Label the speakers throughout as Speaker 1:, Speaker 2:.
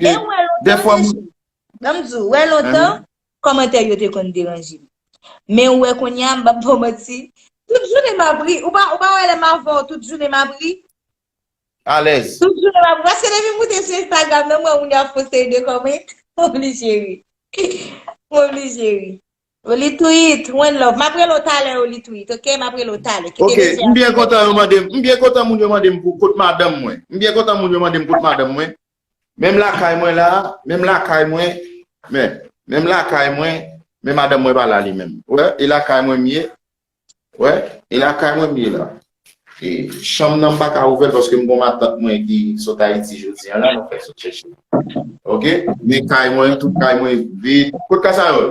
Speaker 1: E ou wè lontan
Speaker 2: deja, an m di w, ou
Speaker 1: wè lontan, kòmantè yo te konn deranje m. Men ou wè kounye a, m pap ba w manti, tout jounen m ap ri. Ou pa wè lè m avè w tout jounen m ap ri?
Speaker 2: Alèz. Tout jounen m ap ri. Paske
Speaker 1: depi m moute sou Instagram nan, m wè moun yo ap fon seri de kòmant, m oblije ri. M oblije ri. O Litwit, one love. M ap rele w talè O Litwit, ok? M ap rele w talè. Ok, m byen kontan
Speaker 2: yo mande m, m byen kontan moun yo mande m pou kot madanm mwen. M byen kontan moun yo mande m kot madanm mwen. Menm lakay mwen la, menm lakay mwen, men, menm lakay mwen, men madanm mwen pa la li menm. Wè, e lakay mwen m ye, wè, e lakay mwen m ye la. E chanm nan m pa ka ouvè l paske m gon matant mwen ki sot Ayiti jodi an la, nou fèk sot chèche l. Ok, men kay mwen, tout kay mwen vid. Kot Kasayòl?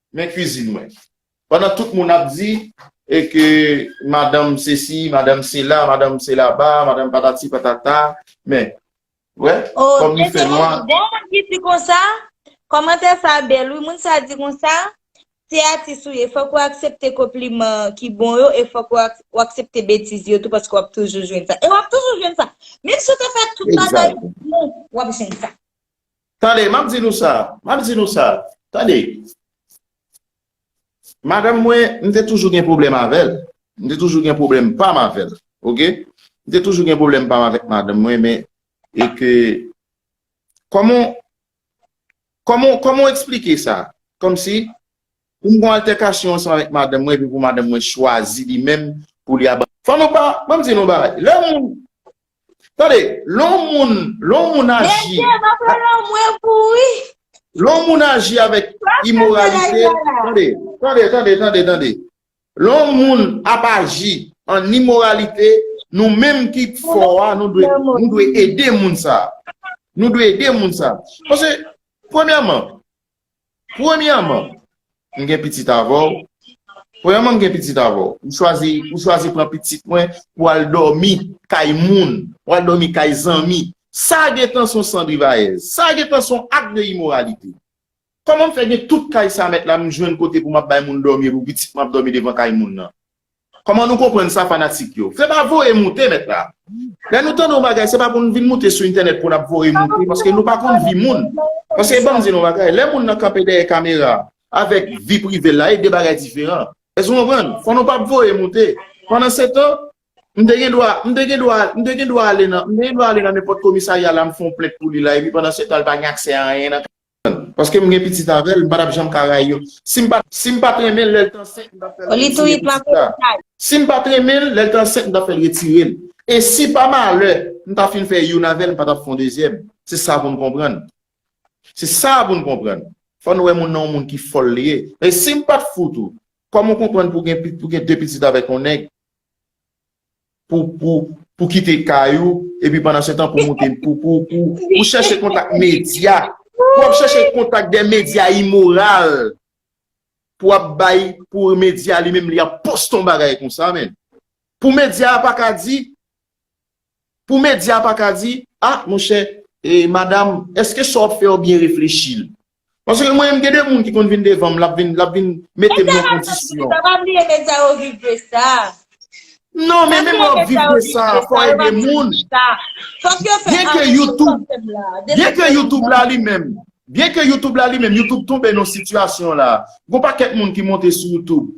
Speaker 2: Men cuisine mwen. Pandan tout moun ap di e ke madanm sesi, madanm sela, madanm selaba, madanm patati patata, men. Wè, kòm li fè nwa.
Speaker 1: Oh, gen
Speaker 2: yon moun ki di konsa?
Speaker 1: Kòmantè sa bèl wi. Moun sa di konsa, Se atis ou ye, fòk ou aksepte konpliman ki bon yo e fòk ou aksepte betiz yo tou paske wap toujou jwenn sa. E wap toujou jwenn sa. Menm si ou te fè tout bagay pou, wap jwenn sa. Tande, m ap
Speaker 2: di nou sa, m ap di nou sa, tande, madanm mwen, m te toujou gen pwoblèm avè l, m te toujou gen pwoblèm pa m avè l, ok, m te toujou gen pwoblèm pa m avèk madanm mwen, men, e ke, kòman, kòman, kòman w eksplike sa? Kòm si, pou m gen yon altèkasyon ansanm avèk madanm mwen, epi pou madanm mwen chwazi li menm pou li aba. Fò nou pa, m ap di nou yon bagay, lè moun. Tande, lè yon moun, lè yon moun aji. Mesye, m ap pran lanmou e pou wi. Lè yon moun aji avèk imoralite, tande, tande, tande, tande, tande. Lè yon moun ap aji an imoralite, nou menm ki fò a, nou dwe, nou dwe ede moun sa a. Nou dwe ede moun sa a. Paske, premyèman, Premyèman, m gen pitit avè w, premyèman m gen pitit avè w, ou chwazi, ou chwazi pran pitit mwen pou al dòmi kay moun, pou al dòmi kay zanmi, sa gen tan son san drivayèz, sa gen tan son ak de imoralite. Kòman m fè gen tout kay sa mèt la m jwenn kote pou m ap bay moun dòmi epi pitit mwen ap dòmi devan kay moun nan? Koman nou konprann sa fanatik yo? Se pa voye moute mèt la. Lè nou tande yon bagay se pa pou nou vin moute sou entènèt pou nap voye moute paske nou pa konn vi moun. Paske banm di nou yon bagay, lè moun nan kanpe dèyè kamera avèk vi privel la e 2 bagay diferan. Èske nou konprann? Fò nou pap voye moute. Pandan se tan, m te gen dwa, m te gen dwa, m te gen dwa ale nan, m te gen dwa ale nan nenpòt komisarya la m fè yon plent pou li la epi pandan se tan li pa gen aksè a anyen nan. Paske m gen pitit avèl m pa tap janm ka rayi yo sim pa sim pat renmen lèl t ansent m tap fèl retire pitit la sim pat renmen lèl t ansent m tap fèl retirel e si pa malè m ta fin fè youn avèl m pa tap fon dezyèm se sa poun konprann se sa poun konprann fòn wè moun nan yon moun ki fòl li ye e sim pat fout ou kòman w konprann pou gen pou gen de pitit avèk yon nèg. pou kite kay ou, epi pandan se tan pou moute, pou chèche kontak medya, pou ap chèche kontak de medya imoral, pou ap bay, pou medya li menm li ap poste yon bagay kon sa men. Pou medya a pa ka di, pou medya a pa ka di, a, monchè, e, madam, eske sa w ap fè yo byen reflechi l? Paske mwen menm gen de moun ki konn vin devan m, l ap vin, l ap vin mete m nan kondisyon. Sa pa bliye nèg sa yo
Speaker 1: viv de sa. Non,
Speaker 2: men menm lè w ap viv de sa, fò w ede moun. Byen ke YouTube, byen ke YouTube la li menm, byen ke YouTube la li menm, YouTube tonbe nan sitiyasyon la. Gon pakèt moun ki monte sou YouTube,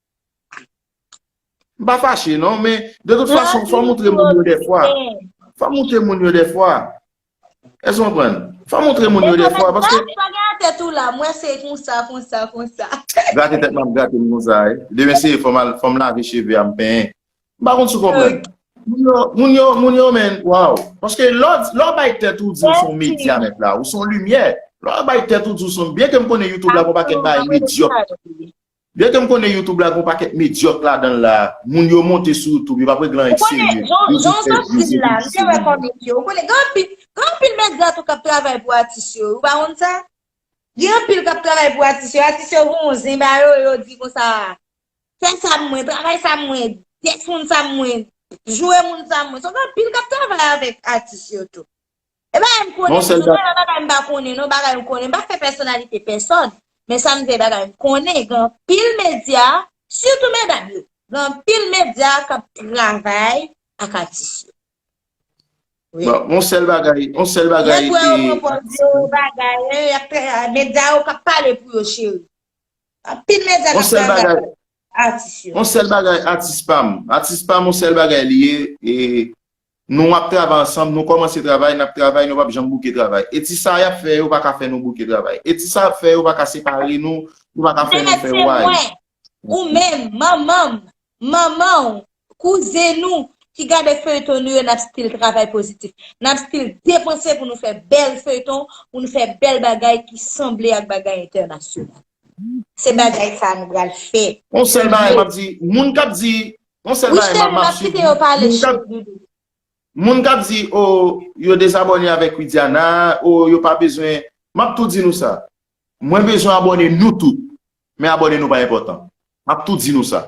Speaker 2: M pa fache non, men de tout fason fò moutre moun yo defwa. Fò moutre moun yo defwa. Èske ou konprann? Fò moutre moun yo defwa. Mwen se pa gen atè tou la,
Speaker 1: mwen se konsa, konsa, konsa. Grate
Speaker 2: tèt mwen ap grate m konsa. Demen se fò m lave cheve a m penyen. M pa konn si ou konprann. Moun yo, moun yo men, waw. Paske lò ou bay tèt ou di ou son medya nèt la, ou son limyè. Lò ou bay tèt ou di ou son, byen ke m konnen YouTube la gon pakèt bagay medyòk. Byen ke m konnen youtube la gen yon pakèt medyòk ladanl la, moun yo monte sou youtube yo pa regle anyen k serye, yo jis fè vye se vye se vye moun. Ou konnen jan w di l la,
Speaker 1: m te wè kòmik yo, ou konnen gen anpil gen anpil medya tou k ap travay pou atis yo, ou pa konn sa? Gen anpil k ap travay pou atis yo, atis yo gen yon zen ba yo, yo di konsa, fè sa pou mwen, travay sa pou mwen, tèks moun sa pou mwen, joure moun sa pou mwen, so gen anpil k ap travay avèk atis yo tou. E bagay m konnen wi, nou pale bagay m pa konnen non, bagay m konnen, m pa fè pèsonalite pèsòn, men sa m di se bagay m konnen, gen anpil medya, sitou medam yo, gen anpil medya k ap travay ak atis yo. Bon, yon sèl
Speaker 2: bagay, yon sèl bagay. Lè frè yo
Speaker 1: pran pòz yo, bagay, medya yo k ap pale pou yo cheri. Anpil medya k ap travay. atis yo. On
Speaker 2: sèl bagay atis pam. Atis pam on sèl bagay li ye e nou ap travay ansanm nou kòmanse travay nap travay nou pap janm bouke travay e ti sa yap fè yo paka fè nou bouke travay e ti sa yap fè yo paka separe nou yo paka fè nou fè wayy. Mèt se mwen, ou menm,
Speaker 1: manmanm, manmanw, Kouzen nou ki gade feuilleton nou yo nap still travay pozitif. Nap still depanse pou nou fè bèl feuilleton, pou nou fè bèl bagay ki sanble ak bagay entènasyonal. Se bagay sa nou pral fè. Yon sèl bagay map
Speaker 2: di moun kap di yon sèl bagay map map swiv moun kap di moun kap di oh yo dezabòne avèk widiana oh yo pa bezwen map tou di nou sa mwen bezwen abòne nou tout men abòne nou pa enpòtan map tou di nou sa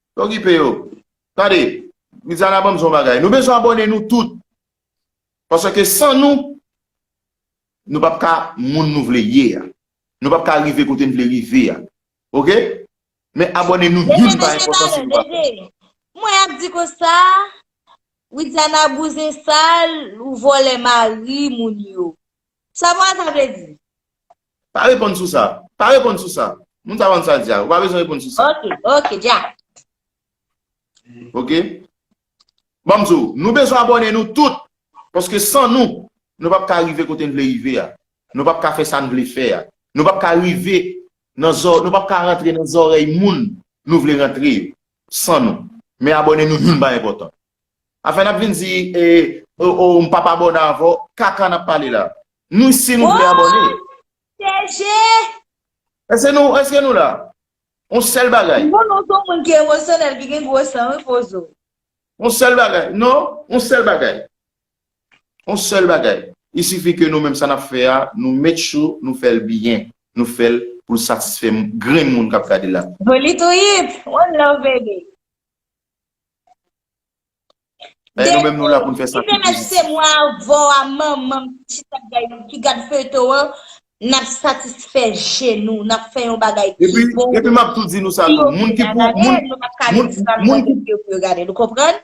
Speaker 2: Okipe yo. Tande, Media la banm di yon bagay. Nou bezwen abòne nou tout. Paske san nou, nou pap ka moun nou vle ye a. Nou pap ka rive kote nou vle rive a. Ok? Men abòne nou youn pa enpòtan si nou pa fè sa. Mwen
Speaker 1: ap di konsa, Widiana bouzen sal, ou vòlè mari moun yo. Sa vwa sa vle di? Pa reponn
Speaker 2: sou sa. Pa reponn sou sa. Moun sa pa konn sa l di a. Ou pa bezwen reponn sou sa. Ok. Ok, Jack. Ok. Ban m di w. Nou bezwen abòne nou tout. Paske san nou, nou p ap ka rive kote n vle rive a. Nou p ap ka fè sa n vle fè a. Nou p ap ka rive nan zò, nou p ap ka rantre nan zòrèy moun nou vle rantre yo san nou. Men abòne nou youn pa enpòtan. Afè nap vin di e oh m pap abòne avè w kaka nap pale la Nou si nou vle abòne Eske nou eske nou la On sèl bagay Mwen non son moun ki emosyonèl ki gen gwo san wi pozo On sèl bagay non On sèl bagay On sèl bagay Il suffit ke nou menm sa nap fè a nou met cho nou fè l byen nou fè l pou l satisfè grenn moun kap gade la. Politoyip!
Speaker 1: One love baby.
Speaker 2: Depi dimench se mwa
Speaker 1: vo a manman m chita gay nou ki gad feyton an nap satisfè je nou nap fè yon bagay ki bon epi map tou
Speaker 2: di nou sa tou moun ki pou moun nou pap ka di sa moun ki pou yo gade nou konprann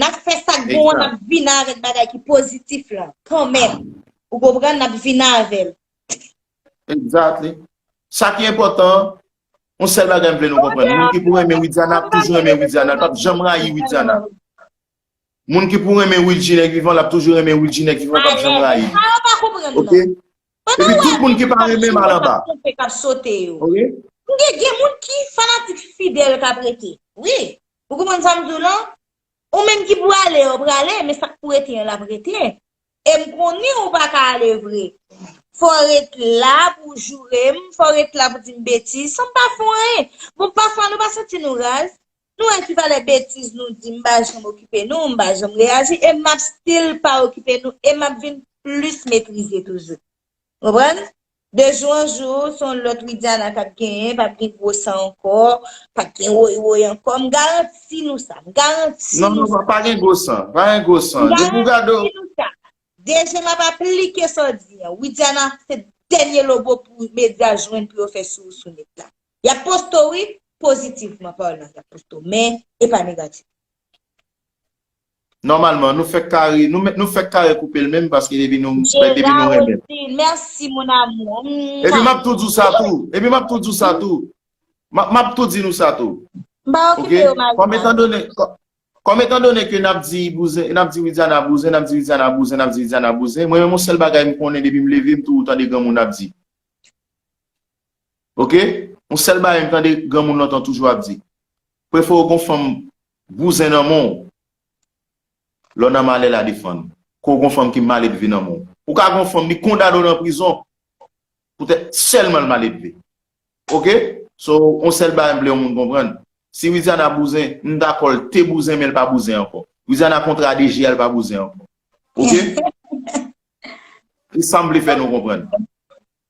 Speaker 1: nap fè sak bon an nap vin avèk bagay ki pozitif la kanmèm ou konprann nap vin avèl
Speaker 2: exactly sa ki enpòtan On sèl bagay m vle nou konprann, moun ki pou renmen Widiana ap toujou renmen Widiana, l pap janm rayi Widiana. Moun ki pou renmen Wilgi nèg vivan l ap toujou renmen Wilgi nèg vivan l pap janm rayi l. Ok? Epi tout moun ki pa renmen m al anba. Ok?
Speaker 1: Gen moun ki fanatik fidèl k ap rete. Wi. Ou konprann sa m di w lan? Ou menm ki pou ale yo prale, men sa k pou rete yo l ap rete. Em konnen ou pa ka ale vre. Fò ret la pou w joure m, fò ret la pou w di m betiz san m pa fè w anyen. Bon pafwa nou pa santi nou raz? Nou wè ki valè betiz nou di m pa janm okipe nou, m pa janm reyaji e m ap stil pa okipe nou e m ap vin plis metrize toujou. Konprann? De jou an jou se yon lòt Widiana kap genyen, pap gen gwo san ankò, pap gen woy woy ankò, m garanti nou sa, m garanti nou sa. Non non pa gen gwo san, pa
Speaker 2: gen gwo san, depi w gade w. M garanti nou sa,
Speaker 1: de je m ap aplike sa w di an, Widiana se dènye lobo pou medya jwenn pou yo fè sou sou nèt la. Yap poste w wi, pozitivman palan yap poste w men e pa negativman.
Speaker 2: Nòmalman, nou fèk kare, nou fèk kare koupe l menm paske depi nou renmen l. Merci mon amour.
Speaker 1: Epi map tou di w
Speaker 2: sa tou, epi map tou di w sa tou, map tou di nou sa tou. M pa okipe
Speaker 1: yo
Speaker 2: mari pa. Kòm etan done ke nap di bouzen, nap di Widiana bouzen, nap di Widiana bouzen, nap di Widiana bouzen, mwen menm yon sèl bagay m konnen depi m leve m toujou tande granmoun ap di. Ok yon sèl bagay m tande granmoun lontan toujou ap di prefow gon fanm bouzen nan menw lèw nan malè la defann ou ke w gon fanm ki maledve nan menw ou ka gon fanm li kondane w nan prizon poutèt sèlman l maledve ok so yon sèl bagay m vle yon moun konprann si Widiana bouzen m dakò l te bouzen men l pa bouzen ankò Widiana kontra DG a l pa bouzen ankò ok se sam vle fè nou konprann.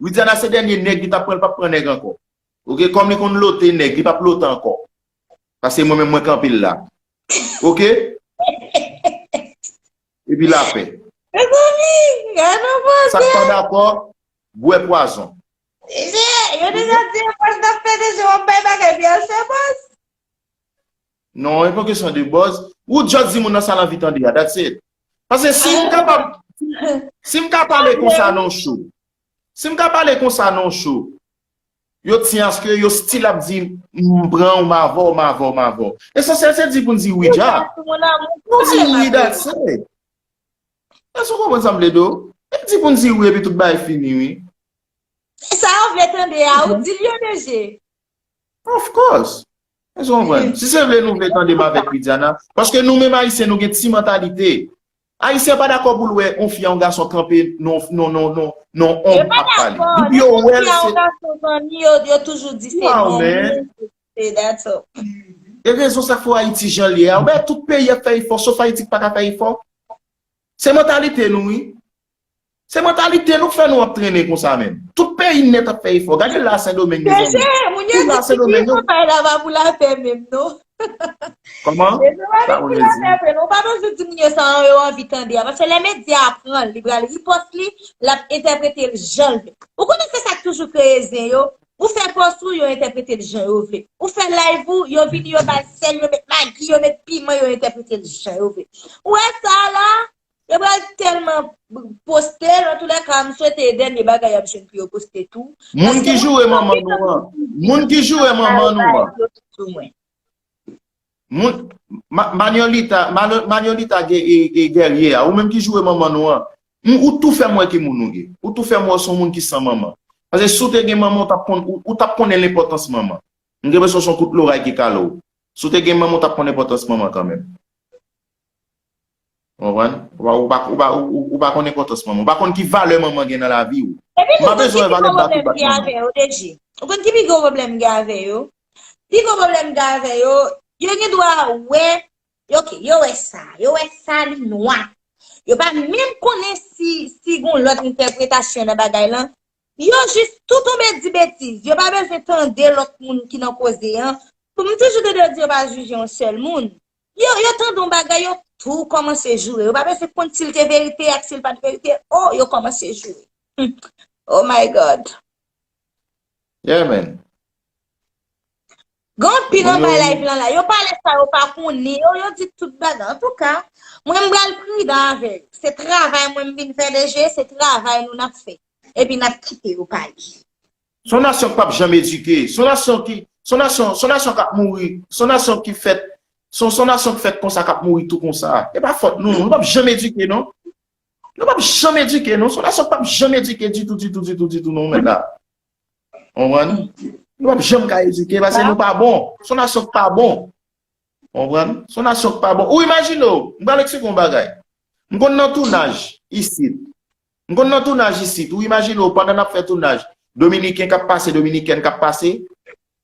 Speaker 2: Widiana se dènye nèg li tap pran li pap pran nèg ankò ok kòm li konn lote nèg li pap lote ankò pase mwen menm mwen kanpel la ok epi lapè sak pa dakò bwè pwazon.
Speaker 1: Yo deja di yo pral nan fè deja wap bay bagay pi al fè buzz.
Speaker 2: Non e pa kesyon de buzz. Ou just di moun nan sa l anvi tande a, that's it. Pase si m kapab, si m ka pale konsa nan yon show, si m ka pale konsa nan yon show, yo ti aske yo still ap di m pran w, m avè w, m avè w, m avè w. Esansyèl se di pou n di wi dja. Nou di wi that's it. Èske ou konprann sa m vle di w? E di pou n di wi epi tout bagay fini wi. Se sa
Speaker 1: yo vle tande a, ou di l yo deje. Of
Speaker 2: course! Èske ou konprann? Si se vre nou vle tande m avèk Widiana, paske nou menm Ayisyen nou gen ti mantalite. Ayisyen pa dakò pou l wè yon fi a yon gason kanpe nan yon onm ap pale. Depi yo wè l se. Yo pa dakò. Depi yon fi a yon gason zanmi yo,
Speaker 1: yo toujou di se non. Waw men. Se that's all. E rezon
Speaker 2: sa k fè w Ayiti jan l ye a. Ou wè tout peyi ap fè efò sof Ayiti ki pa ka fè efò. Se mantalite nou wi. Se mantalite nou k fè nou ap trennen konsa menm. Tout peyi nèt ap fè efò. Gade la Sendomeng mezanmi. Mesye, moun yo di ki ki fè
Speaker 1: bagay la pa pou lapè menm non. Kòman?
Speaker 2: Sa vle di? Sa vle di
Speaker 1: sa vle di. Ou pa bezwen di moun yo sa an, yo anvi tande a. Paske lè medya a pran l, li pral ripòs li, l ap entèprete l jan l vle. Ou konnen se sa k toujou kreye zen yo? Ou fè pòs ou, yo entèprete l jan yo vle. Ou fè live ou, yo vini yo ba l sèl, yo met magi, yo met piman, yo entèprete l jan yo vle. Ou wè sa a la? Yo pral telman postel an tou lè ka m swete e dènye bagay yap jwenn pou yo poste tou. Moun ki joure manman
Speaker 2: nou an. Moun ki joure manman nou an. Moun Manuelita Manuelita Guerrier a ou menm ki joure manman nou an. Ou tou fèm wè ki moun ou ye. Ou tou fèm wè w son moun ki san manman. Pase si w te gen manman ou tap konn ou tap konnen lenpotans manman. M gen presyon son kout loray ki kale w. Si w te gen manman ou tap konn enpotans manman kanmenm. Ou konprann? Ou pa konn enpòtans manman. Ou pa konn ki valè manman gen nan lavi ou. Epi tou, ou konn ki pi gwo pwoblèm m gen avè yo, DG?
Speaker 1: Ou konn ki pi gwo pwoblèm m gen avè yo? Pi gwo pwoblèm m gen avè yo, yo gen dwa wè, ok, yo wè sa, yo wè sa li nwa. Yo pa menm konnen si gon lòt entèpretasyon nan bagay lan. Yo jis tou tonbe di betiz. Yo pa bezwen tande lòt moun ki nan koze an. Kòm m toujou tande yo di yo pa jije yon sèl moun. Yo yo tande yon bagay yo tou kòmanse joure. Yo pa mèsi konn si l te verite ak si l pa te verite. O yo kòmanse joure. O my God.
Speaker 2: Yeah man.
Speaker 1: Gon anpil anba live lan la. Yo pale sa yo pa konnen. Yo yo di tout bagay. An tou ka. Mwen m bal pridan avè yo. Se travay mwen m vin fè DG. Se travay nou nap fè. Epi nap kite yo pale. Son nasyon k
Speaker 2: pap janm edike, son nasyon ki, son nasyon, son nasyon kap mouri, son nasyon ki fèt, son son nasyon k fèt konsa kap mouri tou konsa. E pa fòt nou, nou pap janm edike non. Nou pap janm edike non, son nasyon k pap janm edike ditou, ditou, ditou, ditou non mèt la. Konprann? Nou pap janm ka edike pase nou pa bon. Son nasyon k pa bon. Konprann? Son nasyon k pa bon. Ou imajine w, m pral eksplike w yon bagay. M konn nan tounaj isit, M konn nan tounaj isit, ou imajine w pandan n ap fè tounaj, Dominiken k ap pase, Dominikèn k ap pase.